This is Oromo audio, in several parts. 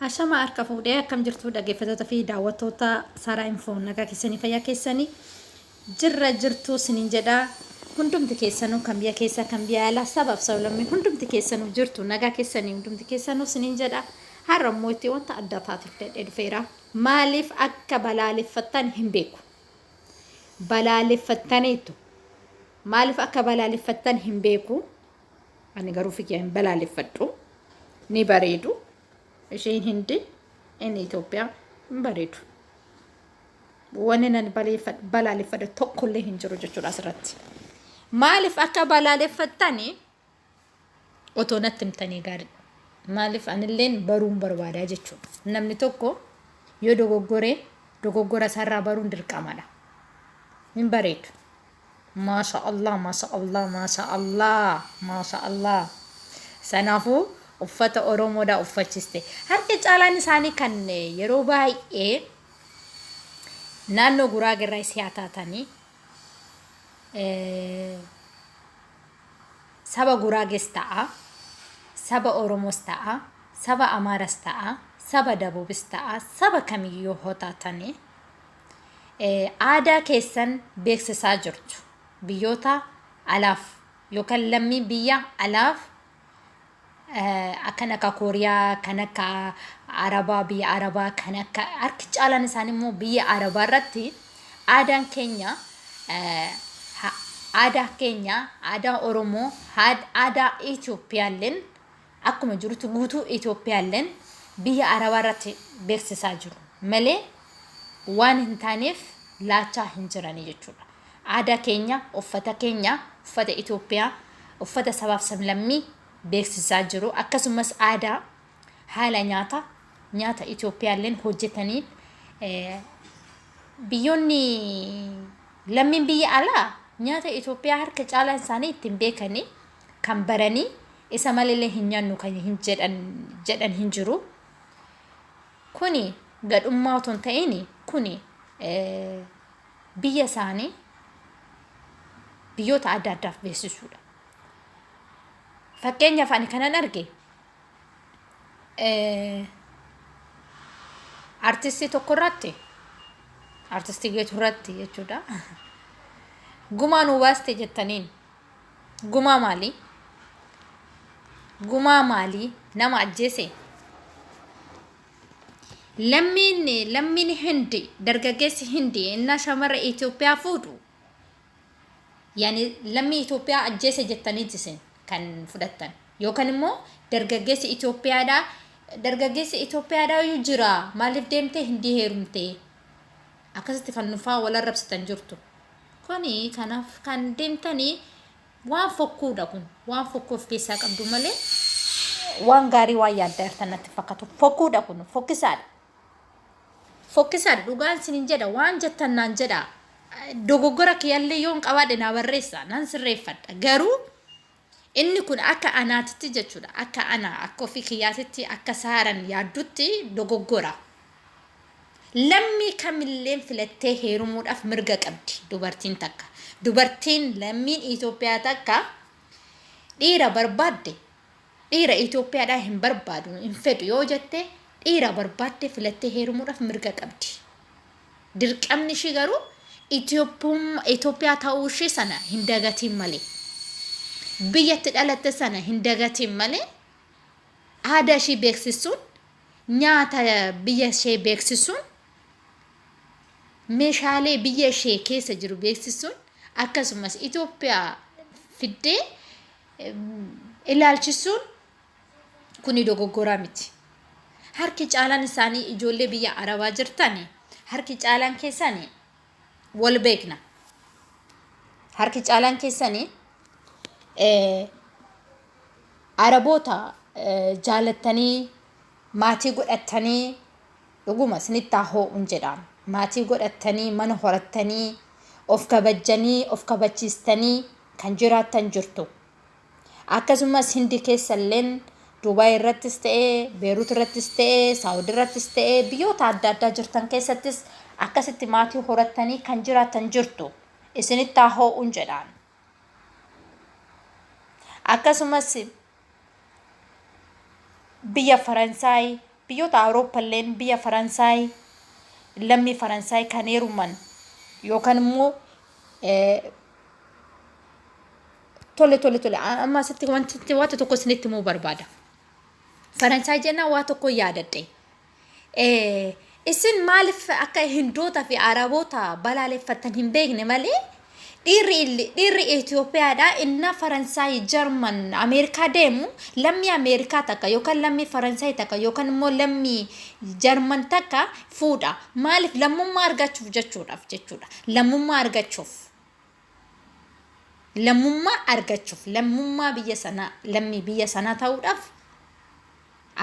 Ashama harka fuudhee akkam jirtu dhaggeeffattoota fi daawwattoota Saaraa Infoo nagaa keessanii fayyaa keessanii jirra jirtu sinin jedha hundumti keessanuu kan biyya keessaa kan biyya alaa sabaaf sablammii hundumti keessanuu jirtu nagaa keessanii hundumti keessanuu sinin jedha har'a immoo itti wanta adda taatiif dadhee dhufeera maaliif akka balaaleffattan hin beeku balaaleffattaniitu maaliif akka balaaleffattan hin beeku Ani garuu fi kiyya hin balaaleffadhu. Ni bareedu. Isheen hindi inni Itoophiyaa hin bareedu. Wanni nan baleeffadhu- balaaleffadhu tokkollee hin jiru jechuudha asirratti. Maaliif akka balaaleffattani otoo natti himtanii gaariidha. Maaliif anilleen baruun barbaadaa jechuudha. Namni tokko yoo dogoggoree dogoggora isaarraa baruun dirqamadha. Hin bareedu. Maasha Allah maasha Allah maasha Allah maasha Allah sanaafuu uffata Oromoodhaa uffachiste harka caalaan isaanii kan yeroo baay'ee naannoo guraagerraa isii haa taatanii saba guraages ta'a saba Oromos ta'a saba Amaaras ta'a saba Dabubis ta'a saba kamiyyuu hoo taatanii aadaa keessan beeksisaa jirtu. Biyyoota alaaf yookaan lammii biyya alaaf akkan akka Kooriyaa, kan akka Arabaa, biyya Arabaa, kan akka harki caalaan isaanii immoo biyya Arabaa irratti aadaan keenya aadaa keenya aadaa Oromoo aadaa Itoophiyaalleen akkuma jirutti guutuu Itoophiyaalleen biyya Arabaa irratti beeksisaa jiru malee waan hin taaneef laachaa hin jirani jechuudha. Aadaa keenya, uffata keenya, uffata Itoophiyaa, uffata sabaaf sablammii beeksisaa jiru. Akkasumas aadaa haala nyaata nyaata Itoophiyaalleen hojjetanii biyyoonni lammiin biyya alaa nyaata Itoophiyaa harka caalaan isaanii ittiin beekanii kan baranii isa malilee hin nyannu kan hin jedhan jedhan hin jiru kuni gadhummaa otoo hin ta'in kuni biyya isaanii biyyoota adda addaaf beeksisuudha. Fakkeenyaaf ani kanan arge artistii tokko irratti artistii geetu irratti jechuudha. Gumaa nuu baaste jettaniin Gumaa maalii? Gumaa maalii? Nama ajjeese? Lammiin lammiin hindi dargaggeessi hindi innaa shamara Itoophiyaa fuudhu yani lammii Itoophiyaa ajjeese jettanii isin kan fudhattan yookaan immoo dargaggeessi Itoophiyaadhaa dargaggeessi Itoophiyaadhaa iyyuu jira maaliif deemtee hindii heerumtee akkasitti kan nufaa wal arrabsitan jirtu. Kuni kanaf kan demtani waan fokkuudha kun waan fokkuu of keessaa qabdu malee waan gaarii waan yaadda irta natti fakkatu fokkuudha kun fokkisaadha fokkisaadha dhugaan sinin jedha waan jettan naan jedha dogoggora kiyallee yoon qabaadhe naa barreessa nan sirreeffadha garuu Inni kun akka anaatitti jechuudha. Akka ana, akka ofii kiyyaatitti, akka Saaran yaaddutti dogoggora. Lammii kamilleen filattee heerumuudhaaf mirga qabdi dubartiin takka. Dubartiin lammiin Itoophiyaa takka dhiira barbaadde dhiira Itoophiyaadhaa hin barbaadu, hin fedhu yoo jette dhiira barbaadde filattee heerumuudhaaf mirga qabdi. Dirqamni ishii garuu Itoophiyaa ta'uu ishii sana hin dagatiin malee, biyya itti dhalatte sana hin dagatiin malee aadaa ishii beeksisuun, nyaata biyya ishee beeksisuun, meeshaalee biyya ishee keessa jiru beeksisuun akkasumas Itoophiyaa fiddee ilaalchisuun Kuni dogoggoraa miti. Harki caalaan isaanii ijoollee biyya Arabaa jirtan harki caalaan keessan wal beekna. Harki caalaan keessan Araboota jaalattanii maatii godhattanii dhuguma isinitti haa hoo'uun jedhaan. Maatii godhattanii mana horattanii of kabajjanii of kabachiistanii kan jiraattan jirtu. Akkasumas Hindi keessa illeen Dubai irrattis ta'e, Beirut irrattis ta'e, Saudi irrattis ta'e biyyoota adda addaa jirtan keessattis akkasitti maatii horattanii kan jiraattan jirtu. Isinitti haa hoo'uun jedhaan. Akkasumas biyya Faransaay, biyyoota Awurooppaa illeen biyya Faransaay lammii Faransaay kan heeruman yookaan immoo Tole tole tole amma asitti wanti waanta tokko isinitti himuu barbaada. Faransaay jennaan waa tokko yaadadhe. Isin maaliif akka Hindoota fi Araboota balaaleffattan hin beekne malee dhiirri dhiirri Itoophiyaadhaa innaa Faransaay, Jarman, Ameerikaa deemu lammii Ameerikaa takka yookaan lammii Faransaay takka yookaan immoo lammii Jarman takka fuudha. Maaliif lammummaa argachuuf jechuudhaaf jechuudha. Lammummaa argachuuf. lammummaa argachuuf lammummaa biyya sanaa lammii biyya sanaa ta'uudhaaf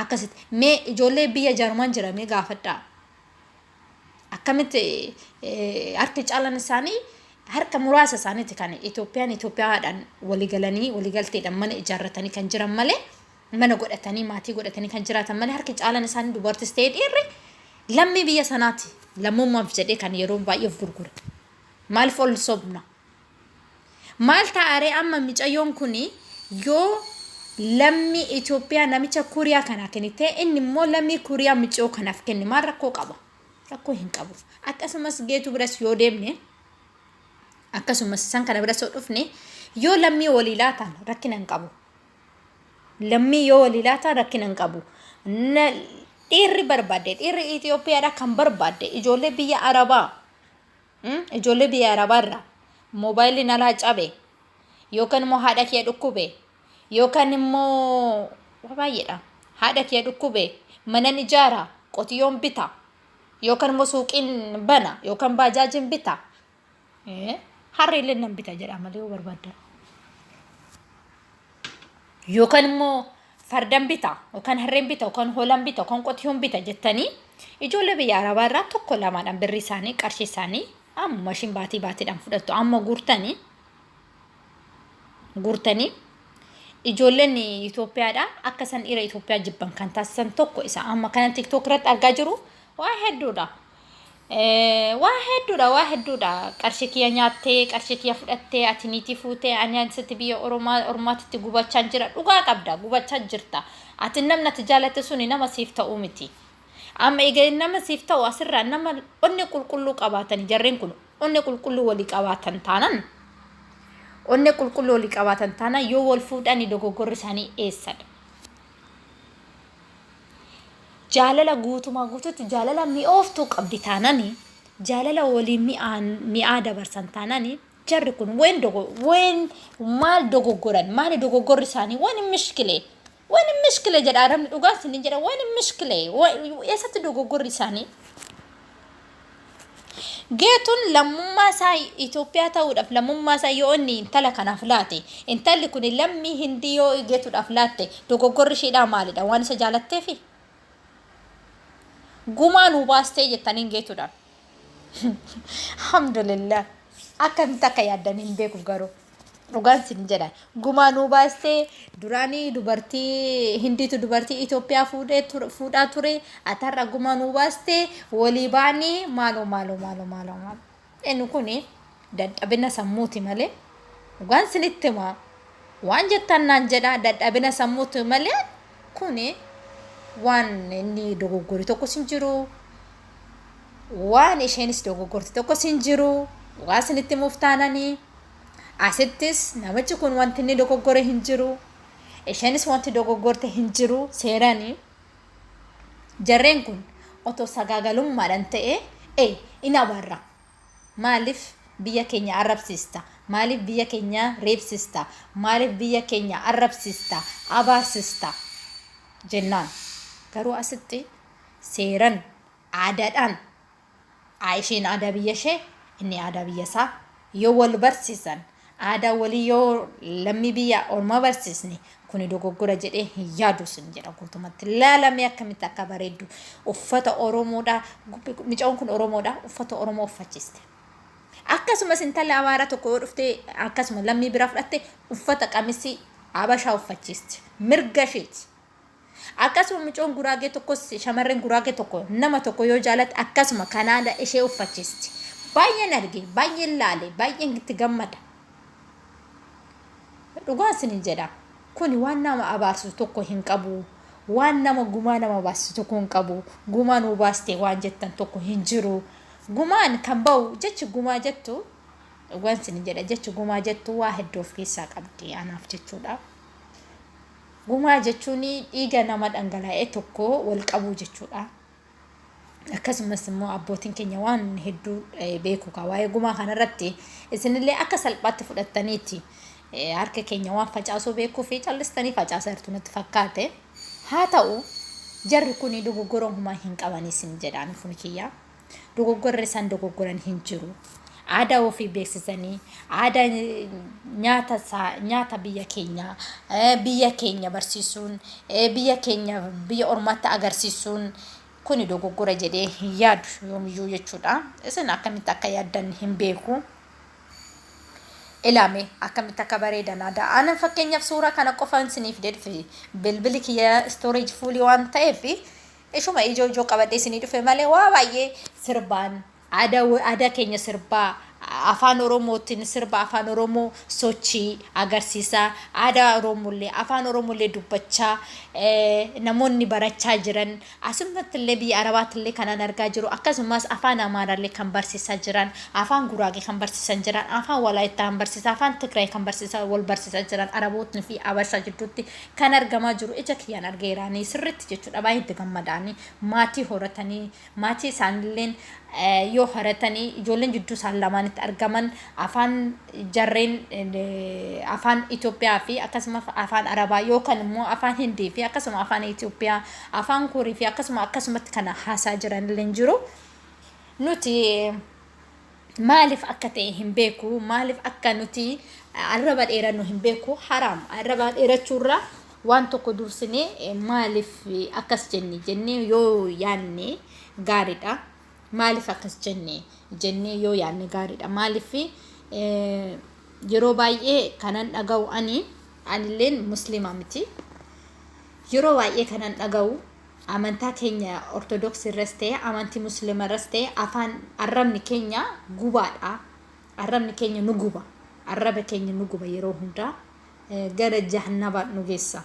akkasitti mee ijoollee biyya jarman jira mee gaafadhaa akkamitti eh, harki caalan isaanii harka muraasa isaaniiti kan Itoophiyaan Itoophiyaadhaan waligalanii waligalteedhaan mana ijaarratanii kan jiran malee mana godhatanii maatii godhatanii kan jiraatan malee harki caalan isaanii dubartis ta'ee dhiirri lammii biyya sanaati lammummaaf jedhee kan yeroo baay'ee of gurgure. Maalif ol sobna? Maal ta'aaree amma micayyoon kun yoo lammii Itoophiyaa namicha Kuuriyaa kana kennite inni immoo lammii Kuuriyaa miciyoo kanaaf kenne maal rakkoo qaba? Rakkoo hin qabu. Akkasumas geetu biras yoo deemne akkasumas san kana biras yoo dhufne yoo lammii walii laataan rakkina hin qabu. Lammii yoo walii laataan rakkina hin qabu. Dhiirri barbaadde dhiirri Itoophiyaadhaa kan barbaadde ijoollee biyya Arabaa Mm, Ijoollee biyya Arabaarraa moobaayilli nalaa cabe yookaan immoo haadha kiyya dhukkube yookaan immoo waa baay'eedha. Haadha kiyya dhukkube manan ijaara qotiyyoon bita yookaan immoo suuqiin bana yookaan baajaajiin bita. Eh, Harree illee nan bita jedha malee yoo barbaaddan. Yookaan immoo fardan bita yookaan harreen bita yookaan hoolan bita yookaan qotiyoon bita jettanii ijoollee biyya arabaa irraa tokko lamaadhaan birri isaanii qarshii isaanii amma ishiin baatii baatiidhaan fudhattu amma guurtanii guurtanii ijoolleen Itoophiyaadha akka isaan dhiira Itoophiyaa jibban kan taasisan tokko isa amma kana tiktook irratti argaa jiru waa hedduudha. Waa hedduudha waa hedduudha qarshii kiyya nyaattee qarshii kiyya fudhattee ati niitii fuutee ani ansitti biyya oromaa ormaatitti gubachaan jira dhugaa qabda gubachaa jirta ati namni ati jaalatte suni nama siif ta'uu miti amma egaa nama siif ta'u asirraa nama onni qulqulluu qabaatan jarreen kun onni qulqulluu walii qabaatan taanan onni qulqulluu walii qabaatan taanan yoo wal fuudhani dogoggorri isaanii eessadha jaalala guutumaa guututti jaalala mi'ooftuu qabdi taanani jaalala waliin mi'aa dabarsan taanani jarri kun ween dogo ween maal dogoggoran maali dogoggorri isaanii wani mishkilee wani mishkilee jedha arabni dhugaa isin jedha wani mishkilee eessatti dogoggorri isaanii Geetuun lammummaa isaa Itoophiyaa ta'uudhaaf lammummaa isaa yoo inni intala kanaaf laate intalli kun lammii hindii yoo geetuudhaaf laatte dogoggorri isheedhaa maalidha waan isa jaalatteefi gumaa nuu baastee jettaniin geetuudhaan alhamdulillah akkamitti akka yaaddan hin beeku garuu Dhugaan sin jedha gumaa nuu baastee duraanii dubartii hindiitu dubartii Itoophiyaa fuudhee ture- fuudhaa ture ati har'a gumaa nuu baastee walii baanii maaloo maaloo maaloo maaloo maaloo inni kun dadhabina sammuuti malee dhugaan sinitti himaa waan jettan naan jedha dadhabina sammuuti malee kun waan inni dogoggore tokkos hin jiru waan isheenis dogoggorte tokkos hin jiru dhugaa isinitti himuuf taananii asittis namichi kun wanti inni dogoggore hin jiru isheenis wanti dogoggorte hin jiru seeranii jarreen kun otoo sagaagalummaadhaan ta'e e in abarra maaliif biyya keenya arrabsiista maaliif biyya keenya reebsiista maaliif biyya keenya arrabsiista abaarsista jennaan garuu asitti seeran, aadaadhaan isheen aadaa biyya ishee inni aadaa biyya isaa yoo wal barsiisan aadaa walii yoo lammii biyya ormaa barsiisne kuni dogoggora jedhee hin yaadu sin jedha guutumatti laalamee akkamitti akka bareeddu uffata oromoodhaa micoon kun oromoodhaa uffata oromoo uffachiiste. Akkasumas intalli abaara tokko yoo dhuftee akkasuma lammii biraa fudhatte uffata qamisii abashaa uffachiisti mirga isheeti Akkasuma micoon guraagee tokkos shamarreen guraagee tokko nama tokko yoo jaalatte akkasuma kanaada ishee uffachiisti. Baay'een arge, baay'een laale, baay'een itti gammada. Dhugaa isiniin jedha. Kuni waan nama abaarsisu tokko hin qabu. Waan nama gumaa nama baasisu tokko hin qabu. Gumaa nuu baaste waan jettan tokko hin jiru. Gumaan kan ba'u jechi gumaa jettu dhugaan isiniin jedha jechi gumaa jettu waa hedduu of keessaa qabdi anaaf jechuudha. Gumaa jechuun dhiiga nama dhangala'e tokkoo wal qabuu jechuudha. Akkasumas immoo abbootiin keenya waan hedduu beeku kaa waa'ee gumaa kanarratti isinillee akka salphaatti fudhattaniiti harka keenya waan facaasuu beekuu fi callistanii facaasaa jirtu natti fakkaate. Haa ta'u jarri kun dogoggora humaa hin qaban isin jedhaan kun kiyyaa. Dogoggorri isaan dogoggoran hin jiru. Aadaa ofii beeksisanii, aadaa nyaata isaa, nyaata biyya keenyaa, biyya keenya barsiisuun, biyya keenya biyya ormaatti agarsiisuun kuni dogoggora jedhee hin yaadu yoomiyyuu jechuudha. Isin akkamitti akka yaaddan hin beeku. Ilaame akkamitti akka bareedan aadaa. Aanan fakkeenyaaf suuraa kana qofaan isiniif dedfi bilbili kiyya storage fuulii waan ta'eef Ishuma ijoo ijoo qabadhee isinii dhufe malee waa baay'ee sirbaan aadaa wo- aadaa keenya sirbaa a- afaan oromootiin sirba afaan oromoo sochii agarsiisaa aadaa oromoollee afaan oromoollee dubbachaa eh, namoonni barachaa jiran asummattillee biyya arabaattillee kanaan argaa jiru akkasumas afaan amaaraallee kan barsiisaa jiran afaan guraagee kan barsiisan jiran afaan walaayittaa kan barsiisaa afaan tigraay kan barsiisaa wal barsiisaa jiran arabootni fi abashaa jidduutti kan argamaa jiru ija kiyyaan argeera ani sirritti jechuudha baay'ee itti gammadaani maatii horatanii maatii isaanilleen eh, yoo horatanii ijoolleen jidduu isaan lamaanitti argaman afaan jarreen eh, afaan Itoophiyaa fi akkasuma afaan Arabaa yookaan immoo afaan Hindii fi akkasuma afaan Itoophiyaa afaan Kuurii fi akkasuma akkasumatti kana haasaa jiranilleen jiru nuti Maalif akka ta'e hin beeku maalif akka nuti arraba dheerannu hin beeku haraam arraba dheerachuurra waan tokko dursinee maalif akkas jenne jennee yoo yaanne gaariidha maalif akkas jenne jennee yoo yaanne gaariidha maalif yeroo baay'ee kanan dhaga'u ani anilleen musliima miti yeroo baay'ee kanan dhaga'u Amantaa keenya Ortodoksii irras ta'e amantii Muslima irras ta'e afaan arrabni keenya gubaadha. Arrabni keenya nu guba. Arraba keenya nu guba yeroo hundaa gara jahannaba nu geessa.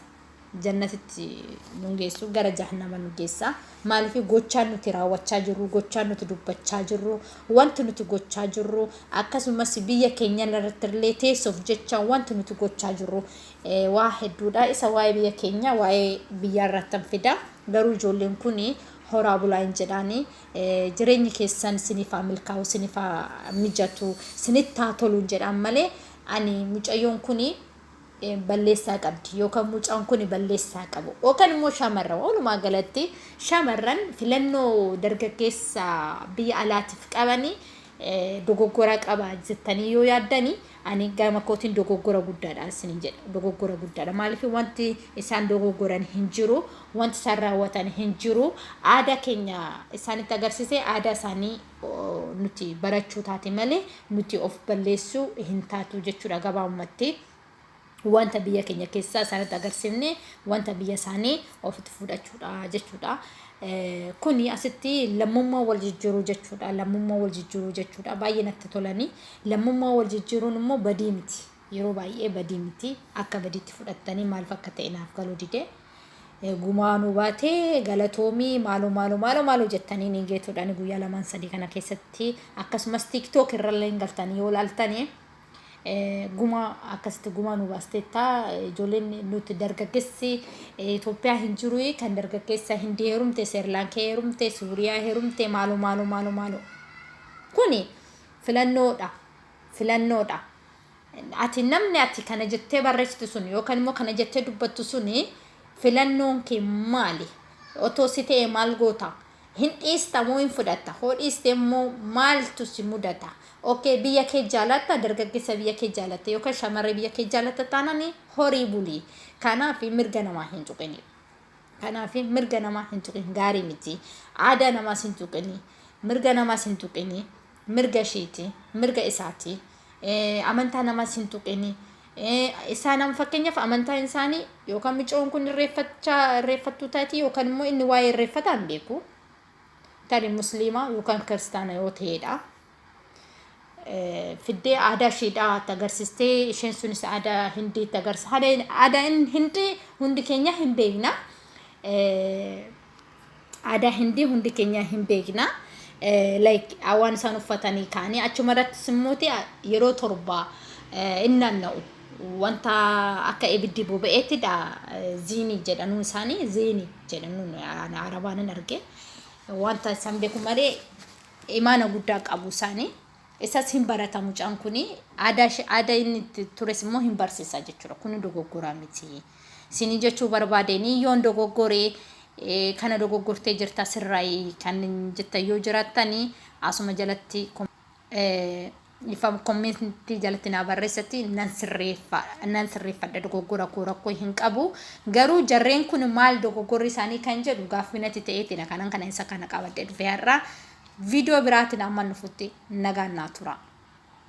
Jannatitti nu geessu gara jahannaba nu geessa. Maaliif gochaan nuti raawwachaa jirru, gochaan nuti dubbachaa jirru, wanti nuti gochaa jirru akkasumas biyya keenya irratti illee teessoof jecha wanti nuti gochaa jirru Waa hedduudha. Isa waa'ee biyya keenya waa'ee biyyaa irraattan fida. Garuu ijoolleen kun horaa bulaa hin jedhaani. Jireenyi keessan isiniif haa milkaa'u, isiniif haa mijatu, isinitti haa tolu hin jedhaan malee ani mucayyoon kun balleessaa qabdi yookaan mucaan kun balleessaa qabu yookaan immoo shamarran walumaa galatti shamarran filannoo dargaggeessa biyya alaatiif qabanii dogoggora qaba jettanii yoo yaaddanii Ani gama kootiin dogoggora guddaadha isiniin jedha. Dogoggora guddaadha. Maaliif wanti isaan dogoggoran hin jiru, wanti isaan raawwatan hin jiru. Aadaa keenya isaanitti agarsiisee aadaa isaanii oo, nuti barachuu taate malee nuti of balleessuu hin taatu jechuudha gabaabumatti. wanta biyya keenya keessaa isaanitti agarsiifne wanta biyya isaanii ofitti fudhachuudha jechuudha. Kuni asitti lammummaa wal jijjiiruu jechuudha. Lammummaa wal jijjiiruu jechuudha. Baay'ee natti tolanii lammummaa wal jijjiiruun immoo badii miti. Yeroo baay'ee badii miti. Akka badiitti fudhattanii maaliif akka ta'e naaf galuu dide. Gumaa nu baatee galatoomii maaloo maaloo maaloo maaloo jettanii ni geetuudhaan guyyaa lamaan sadii kana keessatti akkasumas tiiktook irrallee galtanii yoo laaltanii Gumaa akkasitti gumaa nu baasteetta. Ijoolleen nuti dargaggeessi Itoophiyaa hin jiru kan dargaggeessa Hindii heerumte, Seerlaankee heerumte, Suuriyaa heerumte maaloo maaloo maaloo maaloo. Kuni filannoodha. Filannoodha. Ati namni ati kana jettee barreessitu sun yookaan immoo kana jettee dubbattu sun filannoon kee maali? Otoo si ta'e maal goota? Hin dhiista moo hin fudhatta? Hoo dhiiste immoo maaltu si mudata? Ok biyya kee jaalatta dargaggessa biyya kee jaalatta yookaan shamarree biyya kee jaalatta taanani horii buli. Kanaaf mirga namaa hin tuqini. Kanaaf mirga namaa hin tuqin gaarii miti. Aadaa namaas hin tuqini. Mirga namaas hin tuqini. Mirga ishiiti. Mirga isaati. Amantaa namaas hin tuqini. Isaan amma fakkeenyaaf amantaan isaanii yookaan micoon kun irreeffachaa irreeffattuu taati yookaan immoo inni waa'ee irreeffataa hin beeku. Tani musliimaa yookaan kiristaana yoo ta'edha. Fiddee aadaa ishiidhaa itti agarsiistee isheen sunis aadaa hindii itti agarsiisa. Aadaa hindii hundi keenya hin beekna. aadaa hindii hundi keenyaa hin beekna like waan isaan uffatanii kaanii achuma irrattis immoo yeroo torba in naanna'u wanta akka ibiddi boba'eettidha ziinii jedhanuu isaanii ziinii jedhanuun arabaan hin arge wanta isaan beeku malee imaana guddaa qabu isaanii isas hin barata mucaan kun aadaa inni ture immoo hin barsiisa jechuudha kun dogoggoraa miti. Sini jechuu barbaadeni yoon dogoggore kana dogoggortee jirta sirraayi kan jettan yoo jiraattani asuma jalatti kommentii jalatti naa barreessatti nan sirreeffa nan sirreeffadha dogoggora koo rakkoo hin qabu garuu jarreen kun maal dogoggorri isaanii kan jedhu gaaffii natti ta'eetina kanan kana isa kana qabadhe dhufe har'a viidiyoo biraatiin amma nufutti nagaan naa tura.